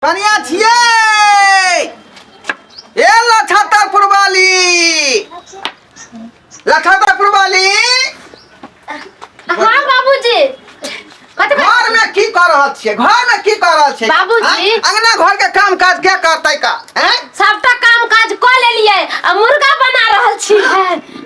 कनिया छिए ए लछतर पुरवाली लछतर पुरवाली हाँ बाबूजी कथी बात- घर में की कर रहल छिए घर में की कर रहल छिए बाबूजी। आँय? अंगना घर के काम काज के करतै का हैं सबटा काम काज कऽ लेलियै आ मुर्गा बना रहल छी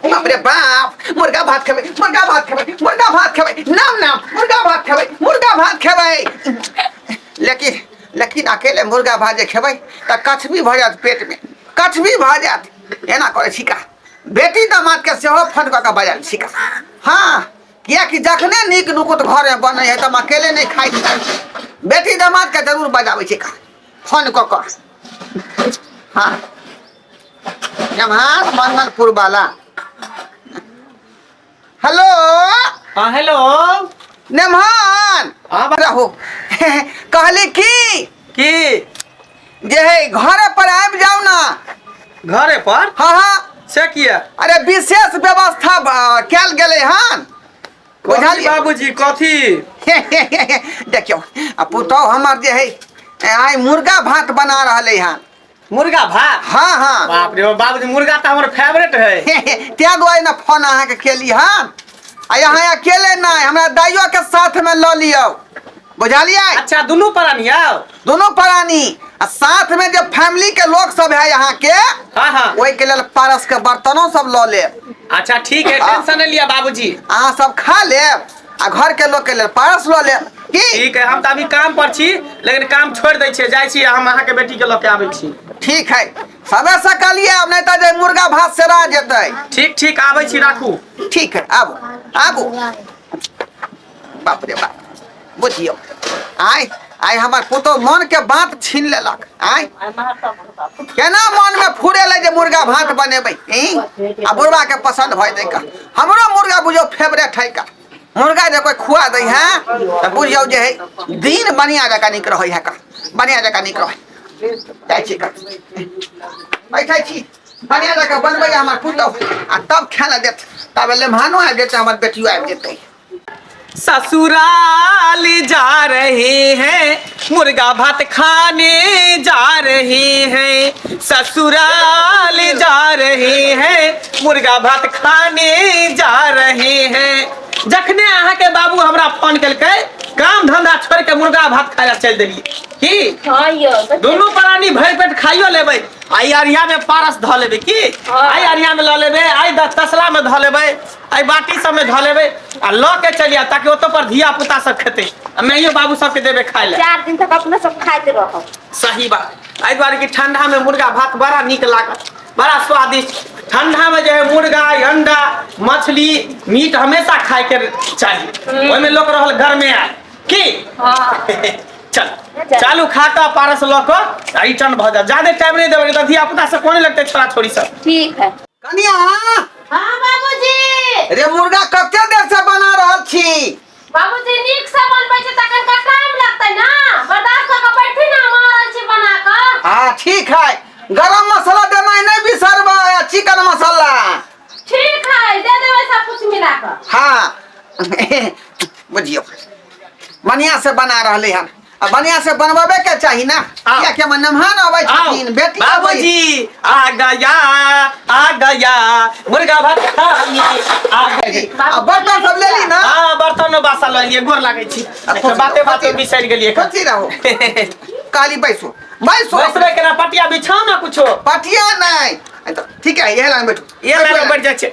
बाप रे बाप मुर्गा भात खेबै मुर्गा भात खेबै मुर्गा भात खेबै नाम नाम मुर्गा भात खेबै मुर्गा भात खेबै लेकिन लेकिन अकेले मुर्गा भात जे खेबै तऽ कछबी भऽ जायत पेटमे कछबी भऽ जायत एना करै छी का बेटी दामादके सेहो फोन कऽ कऽ बजायल छी का हँ किएकि जखने नीक नुकुत घरमे बनै है तऽ हम अकेले नहि खाइ छी बेटी दामादके जरूर बजाबै छी का फोन कऽ कऽ हँ जमार मनकपुर वाला हेलो हाँ हेलो नेमहन हाँ बा- रहो कहली की की जे है घरे पर आबि जाओ ना घरे पर हाँ हाँ से किया अरे विशेष व्यवस्था ब- कयल गेलै हन कथी बुझलियै बाबूजी कथी देखियौ आ पुतहु हमर जे है आइ मुर्गा भात बना रहलै हन मुर्गा भात हाँ हाँ बाप रे बाप, बाबूजी मुर्गा तो हमारे फेवरेट है त्या दुआरे ना फोन अहाँ के केली हम आ यहाँ अकेले ना हमरा दाइयो के साथ में लऽ लियो बुझलियै अच्छा दोनों प्राणी आओ दोनों प्राणी आ साथ में जो फैमिली के लोग सब है यहाँ के हाँ हाँ ओहि के लेल पारस के बर्तनो सब लऽ लेब अच्छा ठीक है टेंशन नहीं लिया बाबूजी अहाँ सब खा लेब आ घर के लोग के लेल पारस लो ले की ठीक है हम तो अभी काम पर छी लेकिन काम छोड़ दै छियै जाइ छी हम अहाँ के बेटी के लऽ के आबै छी ठीक है सबे सकलिए आब नहीं तो जे मुर्गा भात से रह जेते ठीक ठीक आबै छी राखू ठीक है आबू आबू बाप रे बाप बुझियो आय आइ हमर पुतहु मनके बात छीन लेलक आइ केना मनमे फुरेलै जे मुर्गा भात बनेबै ई आ बुढ़बाके पसन्द भऽ जेतै कऽ हमरो मुर्गा बुझियौ फेवरेट है का मुर्गा जे कोइ खुआ दै है तऽ बुझियौ जे है दिन बढ़िआँ जकाँ नीक रहै है का बढ़िआँ जकाँ नीक रहै जाइ छी कऽ बैठै छी बढ़िआँ जकाँ बनबै हमर पुतहु आ तब खाय लए देत तब लेमहानो आबि जेतै हमर बेटियो आबि जेतै ससुराल जा रहे हैं मुर्गा भात खाने जा रहे हैं ससुराल जा रहे हैं मुर्गा भात खाने जा रहे हैं जखने अहाँ के बाबू हमरा फोन केलकै काम धंधा छोड़ के मुर्गा भात खाय ला चल देलिए की हाँ यो दुनू प्राणी भरि पेट खाइयो लेबै आई अरिया में पारस धऽ लेबै की हाँ। आई अरिया में लऽ लेबै आई द- तसला में धऽ लेबै एहि बाटी सबमे धऽ लेबै आ लऽ के चलि आयब ताकि ओतऽ पर धिया पुता सब खेतै आ माइयो बाबू सबके देबै खाय लए चार दिन तक अपने सब खाइत रहब सही बात एहि दुआरे कि ठंडा में मुर्गा भात बड़ा नीक लागत बड़ा स्वादिष्ट ठंडा में जो है मुर्गा अंडा मछली मीट हमेशा खाए के चाहिए ओहिमे लोक रहल घर में आए की हाँ चल चालू खा कऽ पारस लऽ कऽ आ रिटर्न भऽ जायब जादे टाइम नहि देबै तऽ धिया पुता सब कोने लगतै छोड़ा छोड़ी सब ठीक है कनिया हाँ बाबूजी रे मुर्गा कते देर से बना रहल छी बाबूजी नीक से बनबै छै तखन का टाइम लगतै ना बर्दाश्त कऽ कऽ बैठी ना हम आ रहल छी बना कऽ हाँ ठीक है गरम मसाला देना ही नहीं बिसरबा चिकन मसाला ठीक है दे देबै सब कुछ मिला कऽ हाँ बुझियो बढ़िया से बना रहले हन आ बढ़िया से बनवावे के चाहिए ना आओ। किया के मनमहान आवे आओ, छथिन बेटी आवे बाबूजी आ गया आ गया मुर्गा भात खानी आ गया आ बर्तन सब ले ली ना हाँ बर्तन बासा लऽ लिए गोर लागै छी अब तो- बाते बाते बिसरि गेलियै एखन। कथी रहो काली बैसो बैसो बैसबै केना पटिया बिछाउ ने कुछो पटिया नहीं आ तो ठीक है ये लाइन बैठो ये लाइन बैठ जाइ छै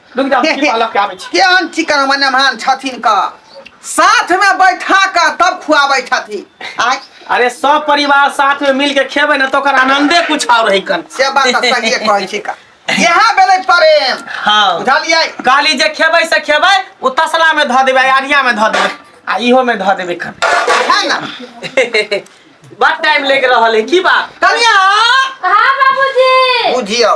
रुक जा के- की के- बालक के आबै छी केहन चिकन मने महान छथिन का साथ में बैठा कर तब खुआबै छथिन आय अरे सब परिवार साथ में मिल के खेबै ना तो ओकर आनंदे कुछ और रही कन से बात तऽ सहिए कहै छी का इएह भेलै प्रेम हाँ बुझलियै काली जे खेबै से खेबै ओ तसला में धऽ देबै आरिया में धऽ देबै आ इहो में धऽ देबै कन है ना बड़ टाइम लेके रहल है की बात कनिया हाँ बाबूजी बुझियौ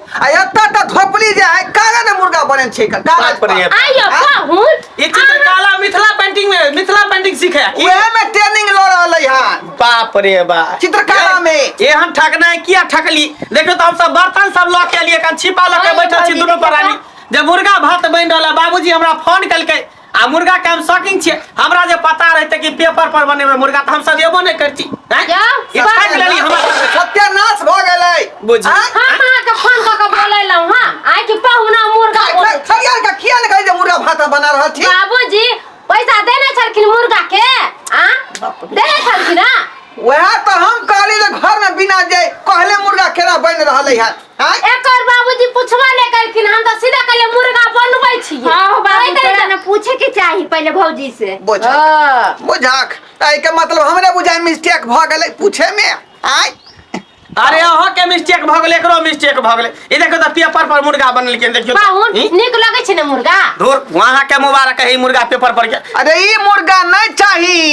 आ एतऽ तऽ धोपली जे है काला ने मुर्गा बने छै का काला बात पर ये। आइयो पाहुन ई चित्रकला मिथिला पेंटिंग मे मिथिला पेंटिंग सीखे की ओहे में ट्रेनिंग ल रहल है हां बाप रे बा चित्रकला में। ये हम ठगना है किया ठगली देखो तो हम सब बर्तन सब लऽ के लिए कन छिपा लऽ के बैठल छी दुनू परानी जब मुर्गा भात बनि रहल है, बाबूजी हमरा फोन कलकै आ मुर्गा के हम शौकीन छियै हमरा जे पता रहते कि पेपर पर बनेबै मुर्गा तऽ हम सब एबो नहि करती हैं? क्या? ई खाइ के लेली हमरा सबके। सत्यानाश भऽ गेलै बुझी। आँय? हम अहाँके फोन कऽ के बोलेलहुँ हँ आइ कि पहुना मुर्गा का- बोल- का- सरिया के किया ने कहै जे मुर्गा भाता बना रहल छी बाबूजी पैसा देने छलखिन मुर्गा के आ देने छलखिन हँ वएह तो हम कहली जे घर में बिना जे कहले मुर्गा केना बन रहले है हाँ? एकर बाबूजी पूछबा नहीं करखिन हम तो सीधा कहले मुर्गा बनबै छी हां हो बाबू तोरा ना पूछे के चाही पहले भौजी से बुझ हां बुझाक ताई के मतलब हमरा बुझाय मिस्टेक भ गेलै पूछे में आय अरे अहाँ के मिस्टेक भ गेलै एकरो मिस्टेक भ गेलै ई देखो त पेपर पर मुर्गा बनल के देखियो बाहुन ई? निक लगै छै ने मुर्गा धुर वहां के मुबारक है ई मुर्गा पेपर पर के अरे ई मुर्गा नहीं चाहिए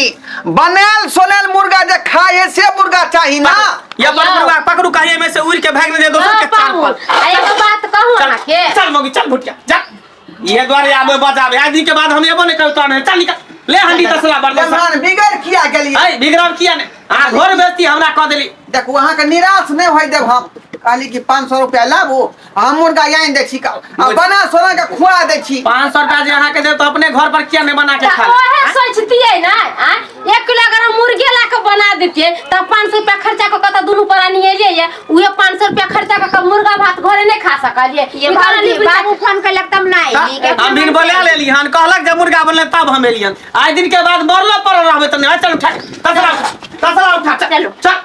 बनायल सोनल मुर्गा जे खाए है से मुर्गा चाही ना या पर जाओ। मुर्गा पकड़ू कहीं में से उड़ के भाग दे दोसर ना के तार पाहुन पर आ एगो बात कहू चल अहाँ के चल मौगी चल भुटिया जा ये द्वारे आबे बजाबे आज दिन के बाद हम एबो नहीं करतो तोरा चल निकल ले हंडी तसला बड़ दे मेहमान बिगड़ किया गेलिए अरे बिगड़ब किया ने आ घर बेचती हमरा कह देली देखू अहाँके निराश नहि होय देब हम कहली कि पाँच सए रुपया लाबू हम मुर्गा आनि दै छी कल आ बना सोना के खुआ दै छी पाँच सौ रुपया जे अहाँ के देब तो अपने घर पर किया नहीं बना के खा लेब? ओहे सोचतियै ना आ? एक किलो अगर हम मुर्गे ला के बना देतियै तऽ पाँच सौ रुपया खर्चा कऽ के तऽ दुनू पर अनिएलियै ये उहे पाँच सौ रुपया खर्चा कऽ के मुर्गा भात घरे नहि खा सकलियै ये निकाल बाबू लिबी बाबू फोन कैलक तब ना अइली के हम दिन बोले लेली हन कहलक जब मुर्गा बनले तब हम एलियन आइ दिन के बाद मरलो पर रहबे तने चल उठा कसला उठा कसला उठा चल चलो। चल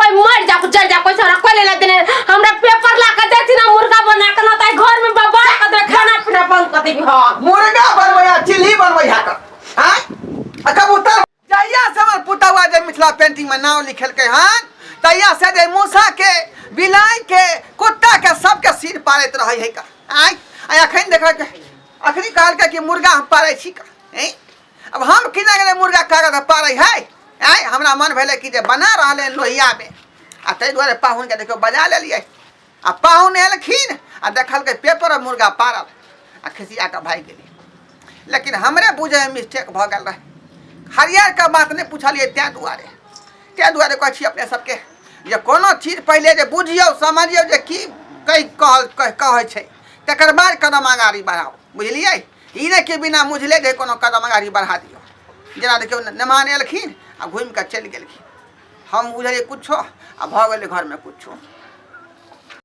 कोई मर जा जर जा कोई सारा कोई लेना देने हमरा पेपर ला के देती ना मुर्गा बना के ना ताई घर में बाबा के दे खाना पीना बंद कर देबी हां मुर्गा बनवैया चिल्ली बनवैया का आय आ कबूतर जहिया से हमर पुतवा जे मिथिला पेंटिंग में नाम लिखेलकै हन तहिया से जे मूसा के बिलाई के कुत्ता के सबके सिर पाड़ैत रहै है का आय आ अखन देखै अखनी कहलकै कि मुर्गा हम पाड़ै छी का हैं अब हम किने गेलै मुर्गा कागज पड़ै है आँय हमरा मन भेलै कि जे बना रहलै लोहियामे आ ताहि दुआरे पाहुनके देखियौ बजा लेलियै आ पाहुन एलखिन आ देखलकै पेपर मुर्गा पारल आ खिसिया कऽ भागि गेलै लेकिन हमरे बुझै मिस्टेक भऽ गेल रहै हरियरके बात नहि पुछलियै ताहि दुआरे ताहि दुआरे कहै छी अपने सबके जे कोनो चीज पहिले जे बुझियौ समझियौ जे की कहि कहल कहै छै तकर बाद कदम अगाड़ी बढ़ाउ बुझलियै ई नहि कि बिना मुझले जे कोनो कदम अगाड़ी बढ़ा दियौ जेना देखियौ नेमान एलखिन आ घुमि कऽ चलि गेलखिन हम बुझलियै किछो आ भऽ गेलै घरमे किछो